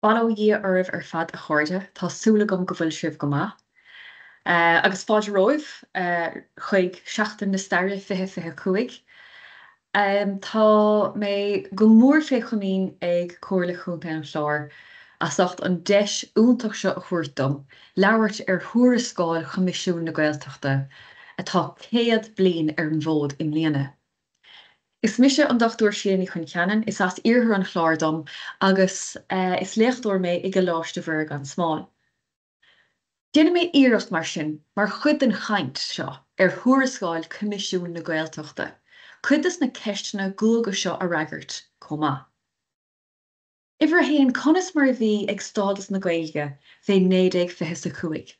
Bail ó Dhia oraibh ar fad a chairde, tá súil agam go bhfuil sibh go maith. Agus fáilte romhaibh chuig Seachtain na Staire 2025. Tá mé go mór fé chomaoin ag Comhairle Chontae an Chláir as ucht an deis iontach seo a thabhairt dom labhairt ar thuarascáil Choimisiún na Gaeltachta atá céad bliain ar an bhfód i mbliana. Is mise an Dr Síle Ní Choincheannain, is as iarthar an Chláir dom agus is léachtóir mé i gColáiste Mhuire gan Smál. Déanfaidh mé iarracht mar sin, mar chuid den chaint seo ar thuarascáil Choimisiún na Gaeltachta, cuid de na ceisteanna guaga seo a fhreagairt chomh maith. Uimhir a haon, conas mar a bhí ag stádas na Gaeilge fé 1925?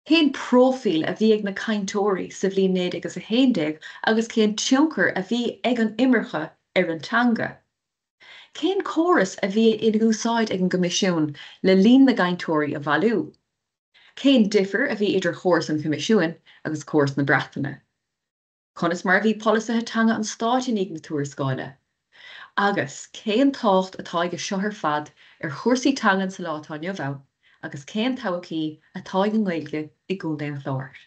Cén próifíl a bhí ag na cainteoirí sa bhliain 1911 agus cén tionchar a bhí ag an imirce ar an teanga? Cén córas a bhí in úsáid ag an gCoimisiún le líon na gcainteoirí a bhailiú? Cén difir a bhí idir chóras an Choimisiúin agus córas na Breataine? conas mar a bhí polasaithe teanga an Stáit i ndiaidh na tuarascáile, agus cén tábhacht atá acu seo ar fad ar chúrsaí teangan sa lá atá inniu ann agus cén todhchaí atá ag an nGaeilge i gContae an Chláir.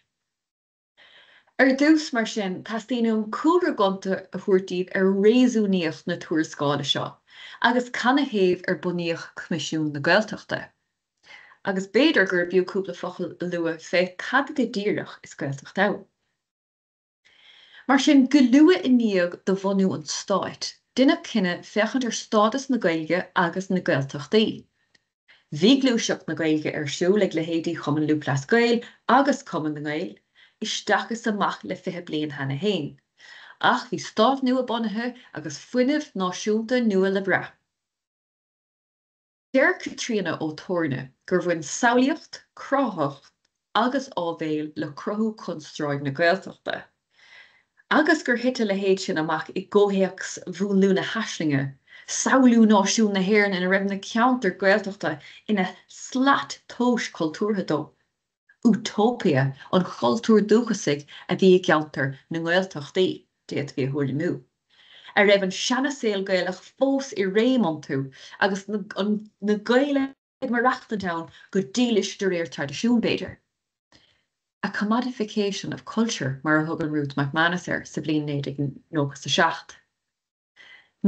Ar dtús, mar sin, teastaíonn uaim cúlra gonta a thabhairt daoibh ar réasúnaíocht na tuarascála seo agus canathaobh ar bunaíodh Coimisiún na Gaeltachta, agus b'fhéidir gurb fhiú cúpla focal a lua fé cad go díreach is Gaeltacht ann. Mar sin, go luath i ndiaidh do bhunú an Stáit, deineadh cinneadh féachaint ar stádas na Gaeilge agus na Gaeltachtaí. Bhí gluaiseacht na Gaeilge ar siúl ag leithéidí Chumann Lúthchleas Gael agus Cumann na nGael isteach is amach le fiche bliain cheana féin, ach bhí stát nua bunaithe agus fuinneamh náisiúnta nua le brath. Deir Caitríona Ó Torna gur bhain samhlaíocht, cráifeacht agus áibhéil le cruthú chonstráid na Gaeltachta agus gur thit a leithéid sin amach i gcomhthéacs mhúnlú na haislinge, samhlú náisiún na hÉireann ina raibh na ceantair Ghaeltachta ina slat tomhais chultúrtha dó. 'Útóipe' an chultúir dúchasaigh a bhí i gceantar na nGaeltachtaí, d'fhéadfaí a thuairimiú, a raibh an seana-saol Gaelach fós i réim iontu agus na Gaeil ag maireachtaint ann go dílis de réir traidisiúin, b'fhéidir. 'A commodification of culture' mar a thugann Ruth McManus air sa bhliain 1997.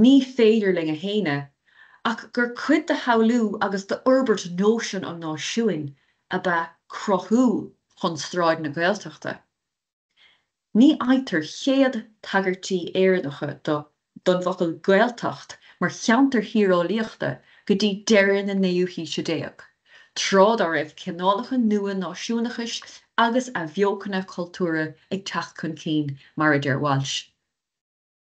Ní féidir linn a shéanadh ach gur cuid de shamhlú agus d'fhorbairt nóisean an náisiúin ab ea cruthú chonstráid na Gaeltachta. Ní fhaightear chéad tagairtí Éireannacha do don bhfocal Gaeltacht mar cheantar thíreolaíochta go dtí deireadh na naoú haoise déag, tráth dá raibh cineálacha nua náisiúnachais agus athbheochana cultúrtha ag teacht chun cinn, mar a deir Walsh.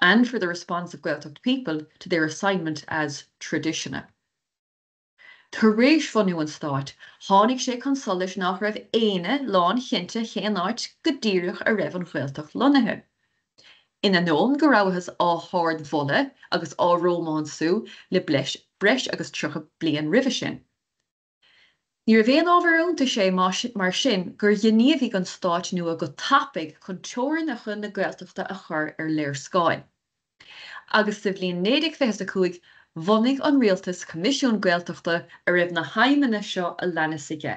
and for the response of Gaeltacht people to their assignment as traditiona. Tar éis bhunú an Stáit, tháinig sé chun solais nach raibh éinne lánchinnte cén áit go díreach a raibh an Ghaeltacht lonnaithe. In ainneoin go rabhthas á hardmholadh agus á rómánsú le breis agus tríocha bliain roimhe sin, Níorbh aon ábhar iontais é mar sin gur ghníomhaigh an Stáit nua go tapaidh chun teorainneacha na Gaeltachta a chur ar léarscáil. Agus sa bhliain 1925 bhunaigh an Rialtas Coimisiún Gaeltachta a raibh na haidhmeanna seo a leanas aige.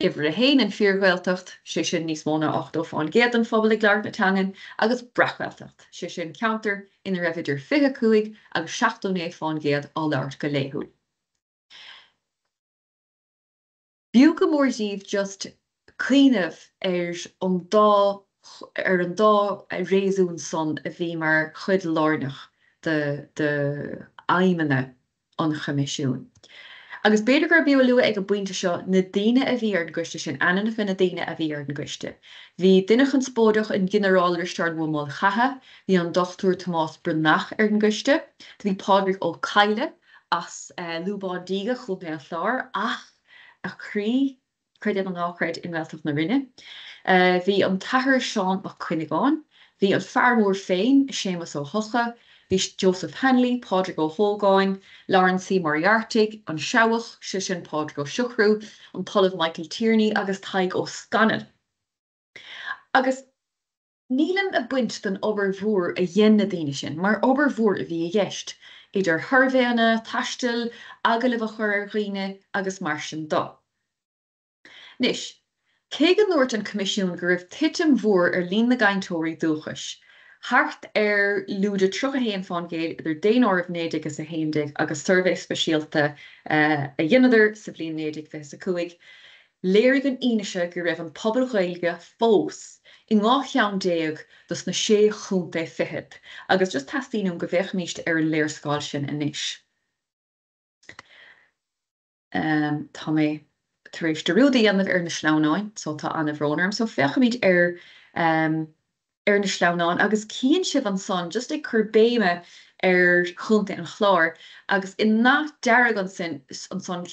Uimhir a haon an Fíor-Ghaeltacht, sé sin níos mó ná 80% den phobal ag labhairt na teangan, agus Breac-Ghaeltacht, sé sin ceantar ina raibh idir 25 agus 79% á labhairt go laethúil. B'fhiú go mór díbh just cuimhneamh ar an dá ar an dá réasún san a bhí mar chuid lárnach d'aidhmeanna na. an Choimisiúin. Agus b'fhéidir gurb fhiú a lua ag an bpointe seo na daoine a bhí ar an gcoiste sin, ainmneacha na ndaoine a bhí ar an gcoiste. Bhí duine chonspóideach, an Ginearál Risteárd Ua Maolchatha, bhí an Dr Tomás Breathnach ar an gcoiste, bhí Pádraig Ó Cadhla as Lúbán Díge, Chontae an Chláir, ach a chroí, Creid é nó ná creid, i nGaeltacht na Rinne, bhí an tAthair Seán Mac Cuinneagáin, bhí an Fear Mór féin, Séamas Ó hEocha, bhí Joseph Hanly, Pádraig Ó hÓgáin, Laurence C. Moriarty, An Seabhach, sé sin Pádraig Ó Siochrú, an tOllamh Michael Tierney agus Tadhg Ó Scanaill. Agus. Nílim ag baint den obair mhór a dhein na daoine sin, mar obair mhór a bhí i gceist, idir shuirbhéanna, taisteal, agallaimh a chur ar dhaoine agus mar sin do. Anois, cé go ndúirt an Coimisiún go raibh titim mhór ar líon na gcainteoirí dúchais, thart ar lúide 31 fán gcéad idir daonáireamh 1911 agus suirbhé speisialta a dheineadar sa bhliain 1925, Léirigh an fhianaise go raibh an pobal Ghaeilge fós in dhá cheann déag dos na sé chontae fichead agus just teastaíonn uaim go bhféachaimíst ar an léarscáil sin anois. Tá mé tar éis dearúd a dhéanamh ar na sleamhnáin so tá an-bhrón orm so féachaimid ar ar na sleamhnáin agus cíonn sibh ansan just ag cur béime ar Chontae an Chláir agus i ndath dearg ansan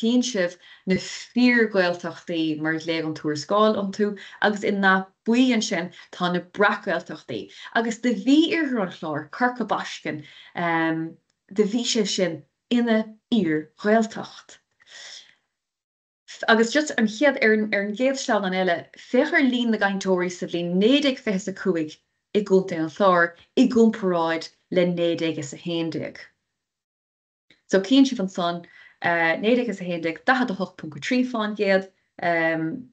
cíonn sibh na fíor Gaeltachtaí mar a ghlaoigh an tuarascáil orthu agus i ndath buí ansin tá na breac Gaeltachtaí agus do bhí Iarthar an Chláir, Corca Baiscinn ehm do bhí sé sin ina fhíor Ghaeltacht. Agus just an chéad, ar an, ar an gcéad sleamhnán eile, féach ar líon na gcainteoirí sa bhliain naoi déag fiche is a cúig i gContae an Chláir i gcomparáid le naoi déag is a haon déag. So cíonn sibh ansan, naoi déag is a haon déag, daichead a hocht ponc a trí fán gcéad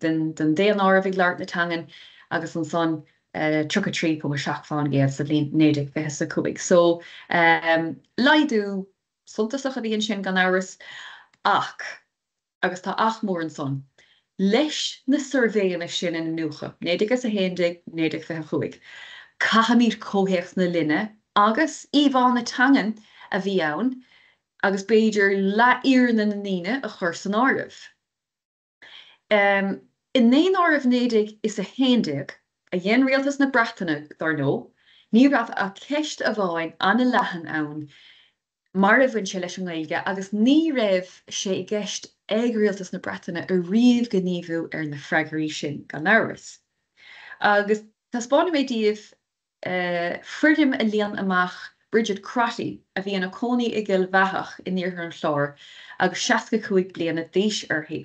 den daonáireamh ag labhairt na teangan agus ansan tríocha trí ponc a seacht fán gcéad sa bhliain naoi déag fiche is a cúig. So laghdú suntasach a bhí ansin gan amhras ach. agus tá ach mór ansan, leis na suirbhéanna sin a iniúchadh, 1911, 1925, caithfimid comhthéacs na linne agus íomhá na teangan a bhí ann agus b'fhéidir leathfhírinne na ndaoine a chur san áireamh. I ndaonáireamh 1911 a dhein Rialtas na Breataine, dar ndóigh, ní raibh ach ceist amháin an-leathan ann mar a bhain sé leis an nGaeilge agus ní raibh sé i gceist ag Rialtas na Breataine riamh gníomhú ar na freagraí sin, gan amhras. Agus taispeánfaidh mé daoibh foirm a líon amach Bridget Crotty a bhí ina cónaí i gCill Bheathach in iarthar an Chláir agus seasca cúig bliana d'aois uirthi.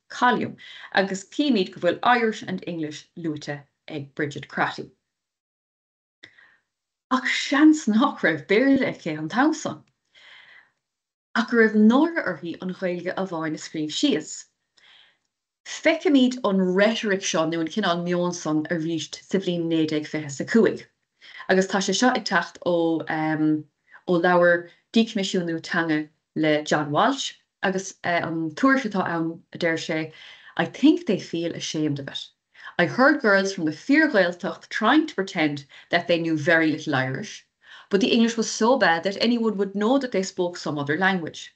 Column, agus címid go bhfuil Irish and English luaite ag Bridget Crotty. Ach seans nach raibh Béarla aici an t-am san, ach go raibh náire uirthi an Ghaeilge amháin a scríobh síos. Feicimid an reitric seo nó an cineál meoin san arís sa bhliain 1925. agus tá sé seo ag teacht ó ó leabhar Díchoimisiúnú Teanga le John Walsh agus an tuairisc atá ann a deir sé I think they feel ashamed of it. I heard girls from the fíorGhaeltacht trying to pretend that they knew very little Irish but the English was so bad that anyone would know that they spoke some other language.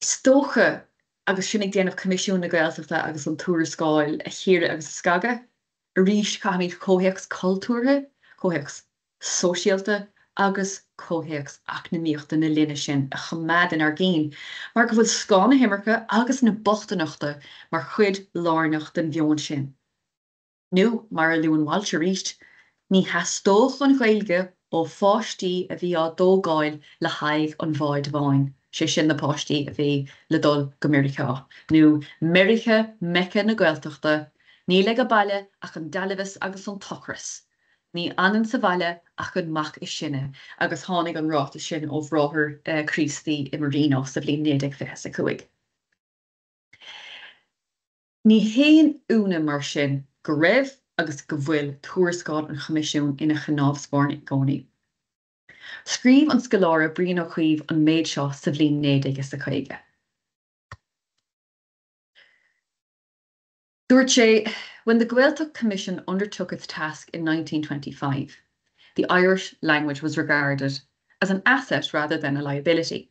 Is dócha, agus sinn ag déanamh Coimisiún na Gaeltachta agus an tuarascáil a chíoradh agus a scagadh, arís caithfimid comhthéacs cultúrtha, comhthéacs sóisialta agus comhthéacs eacnamaíochta na linne sin a choimeád inár gcinn mar go bhfuil scáth na himirce agus na bochtaineachta mar chuid lárnach den mheon sin. nó, mar a luann Walsh arís, ní theastódh an Ghaeilge ó pháistí a bhí á dtógáil le haghaidh an bháid bháin, sé sin na páistí a bhí le dul go Meiriceá, nó Meirice Meice na Gaeltachta, níl ag baile ach an dealbhas agus an t-ocras, ní fhanann sa bhaile ach an mac is sine, agus tháinig an ráiteas sin ó bhráthair Críostaí i Marino sa bhliain 1925. Ní haon ionadh mar sin go raibh agus go bhfuil tuarascáil an Choimisiúin ina cnámh spairne i gcónaí. Scríobh an scoláire Brian Ó Cuív an méid seo sa bhliain 1950. Dúirt sé, 'When the Gaeltacht Commission undertook its task in 1925, the Irish language was regarded as an asset rather than a liability.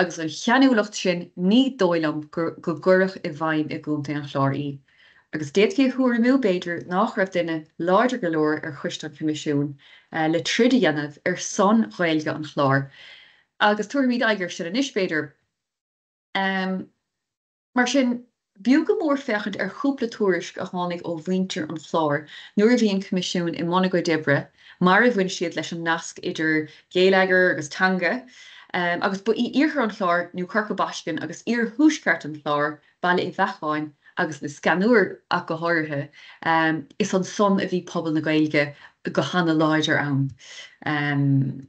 agus an cheanúlacht sin ní dóigh liom go gcuirfeadh i bhfeidhm i gContae an Chláir í, agus d'fhéadfaí a thuairimiú, b'fhéidir, nach raibh duine láidir go leor ar Choiste an Choimisiúin le troid a dhéanamh ar son Ghaeilge an Chláir, agus tabharfaimid aghaidh air sin anois, b'fhéidir. Mar sin, b'fhiú go mór féachaint ar chúpla tuairisc a tháinig ó mhuintir an Chláir nuair a bhí an Coimisiún i mbun a gcuid oibre, mar a bhain siad leis an nasc idir geilleagar agus teanga, agus ba í iarthar an Chláir nó Corca Baiscinn agus iarthuaisceart an Chláir, Baile Uí Bheacháin agus Lios Ceannúir ach go háirithe, is ansan a bhí pobal na Gaeilge go hana-láidir ann.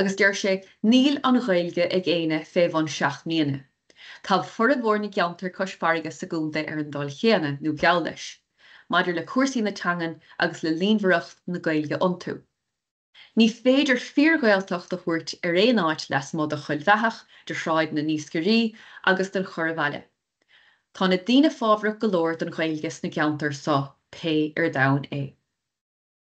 Agus deir sé, Níl an Ghaeilge ag éinne fé bhun seacht mbliana. Tá formhór na gceanntar cois farraige sa gContae ar an dul chéanna, nó geall leis, maidir le cúrsaí na teangan agus le líonmhaireacht na Gaeilge iontu. Ní féidir fíor-Ghaeltacht a thabhairt ar aon áit leasmuigh de Choill Bheathach, de Shráid na nIascairí agus den Chorrbhaile. Tá na daoine fábhrach go leor don Ghaeilge sna ceanntair so, pé ar domhan é.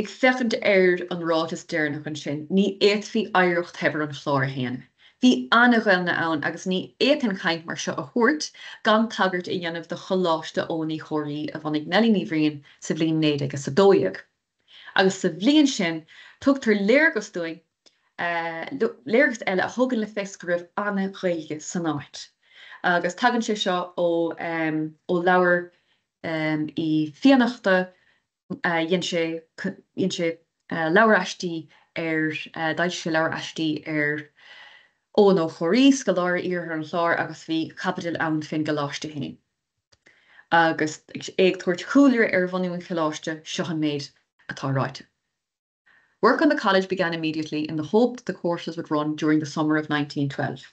Ag féachaint ar an ráiteas deireanach ansin, ní fhéadfaí oidhreacht shaibhir an Chláir a shéanadh. Bhí an-Ghaelainn ann agus ní fhéadfainn caint mar seo a thabhairt gan tagairt a dhéanamh do Choláiste Eoghain Uí Chomhraí a bhunaigh Nellie Ní Bhriain sa bhliain 1912 agus sa bhliain sin tugtar léargas dúinn léargas eile a thugann le fios go raibh an-Ghaeilge san áit agus tagann sé seo ó leabhar Uí Fiannachta dhein sé dhein sé leabhar aistí ar d'fhoilsigh sé leabhar aistí ar Eoghan Ó Comhraí, scoláire iarthar an Chláir agus bhí caibidil ann fén gColáiste féin agus é ag tabhairt cúlra ar bhunú an Choláiste, seo an méid atá ráite, 'Work on the College began immediately in the hope that the courses would run during the summer of 1912.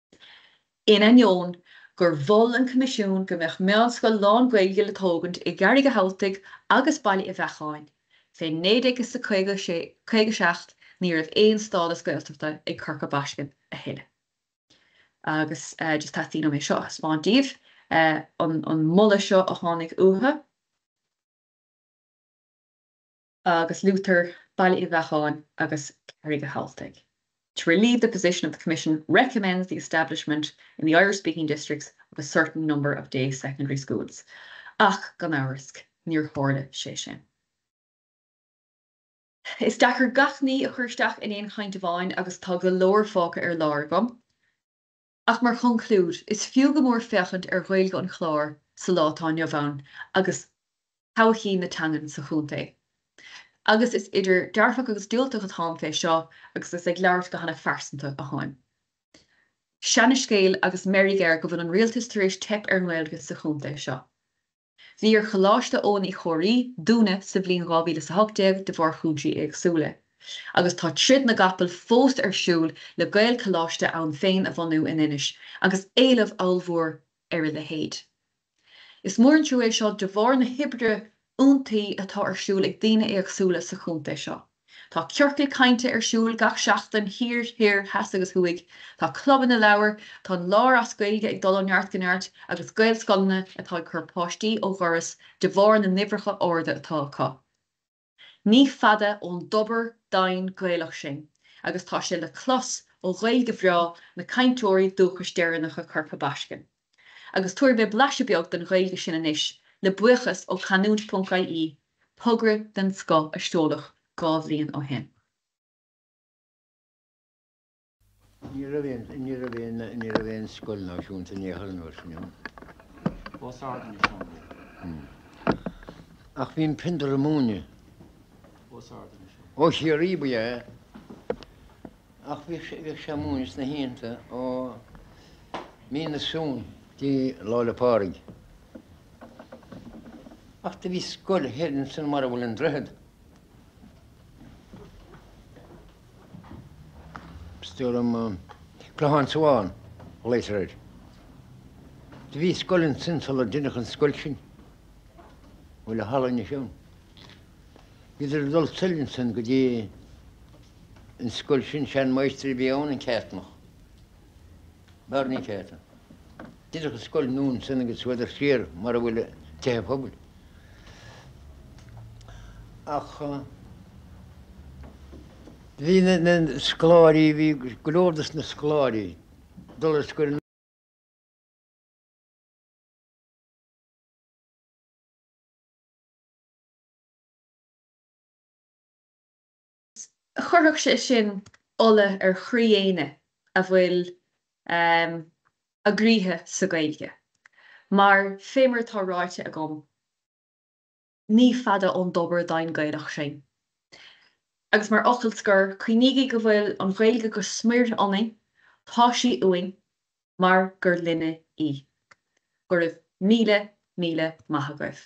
In ainneoin gur mhol an Coimisiún go mbeadh meánscoil lán-Ghaeilge le tógaint i gCarraig a' Chabhaltaigh agus Baile Uí Bheacháin fé 1957 ní raibh aon stádas Gaeltachta ag Corca Baiscinn a thuilleadh agus just teastaíonn uaim é seo a thaispeáint díbh an moladh seo a tháinig uathu. agus luaitear Baile Uí Bheacháin agus Carraig a' Chabhaltaigh to relieve the position the Commission recommends the establishment in the Irish-speaking districts of a certain number of day secondary schools ach gan amhras níor tharla sé sin. Is deacair gach ní a chur isteach in aon chaint amháin agus tá go leor fágtha ar lár agam. Ach mar chonclúid, is fiú go mór féachaint ar Ghaeilge an Chláir sa lá atá inniu ann agus todhchaí na teangan sa chontae. Agus is idir dearfach agus diúltach atáim fé seo agus is ag labhairt go hana phearsanta atáim. Seana scéal agus meirg air go bhfuil an Rialtas tar éis teip ar an nGaeilge sa chontae seo. bhí ar Choláiste Eoghain Uí Chomhraí dúnadh sa bhliain 2018 de bharr chúinsí éagsúla, agus tá troid na gcapall fós ar siúl le Gaelcholáiste ann féin a bhunú in Inis, agus éileamh ollmhór ar a leithéid. Is mór an trua é seo de bharr na hoibre iontaí atá ar siúl ag daoine éagsúla sa chontae seo. Tá ciorcail cainte ar siúl gach seachtain, thiar, thoir, theas agus thuaidh. Tá clubanna leabhar, tá An Clár as Gaeilge ag dul ó neart go neart, agus Gaelscoileanna atá ag cur páistí ó dhoras de bharr na n-uimhreacha arda atá acu. Ní fada ón dtobar doimhin Gaelach sinn, agus tá sé le clos ó Ghaeilge bhreá na cainteoirí dúchais deireanacha Chorca Baiscinn. agus tabharfaidh mé blaiseadh beag den Ghaeilge sin anois, le buíochas ó Canúint.ie, togra den scoth a seoladh dhá bhliain ó shin. Ní raibh aon, ní raibh aon, ní raibh aon scoil náisiúnta né thar an uair sin ann. Os ard ina seomraí. Ach bhí an Piondar a' múineadh. Os ard ina seomraí. Ó Chiarraí ba ea é. Ach bhí sé bhí sé ag múineadh sna hoícheanta ó mí na Samhna. dtí Lá 'le Pádraig. Ach do bhí scoil thoir ansan mar a bhfuil an Droichead. Dtugann Clochán Sábháin, ghlaotar air. Do bhí scoil ansan sular deineadh an scoil sin. Bhfuil an halla anois ann? Bhíodar ag dul soir ansan go dtí an scoil sin, sean mháistir a bhí ann, an Cearnach, Barney Carton. Deineadh an scoil nua ansan agus chuadar siar mar a bhfuil an tigh pobail. Ach bhí na scoláirí, bhí go leor dos na scoláirí ag dul ar scoil. chuirfeadh sé sin ola ar chroí éinne a bhfuil a gcroíthe sa Ghaeilge, mar fé mar atá ráite agam, ní fada ón dtobar domhain Gaelach sinn. Agus mar fhocal scor, cuimhnígí go bhfuil an Ghaeilge go smior ionainn, tá sí uainn mar gur linne í. Go raibh míle, míle maith agaibh.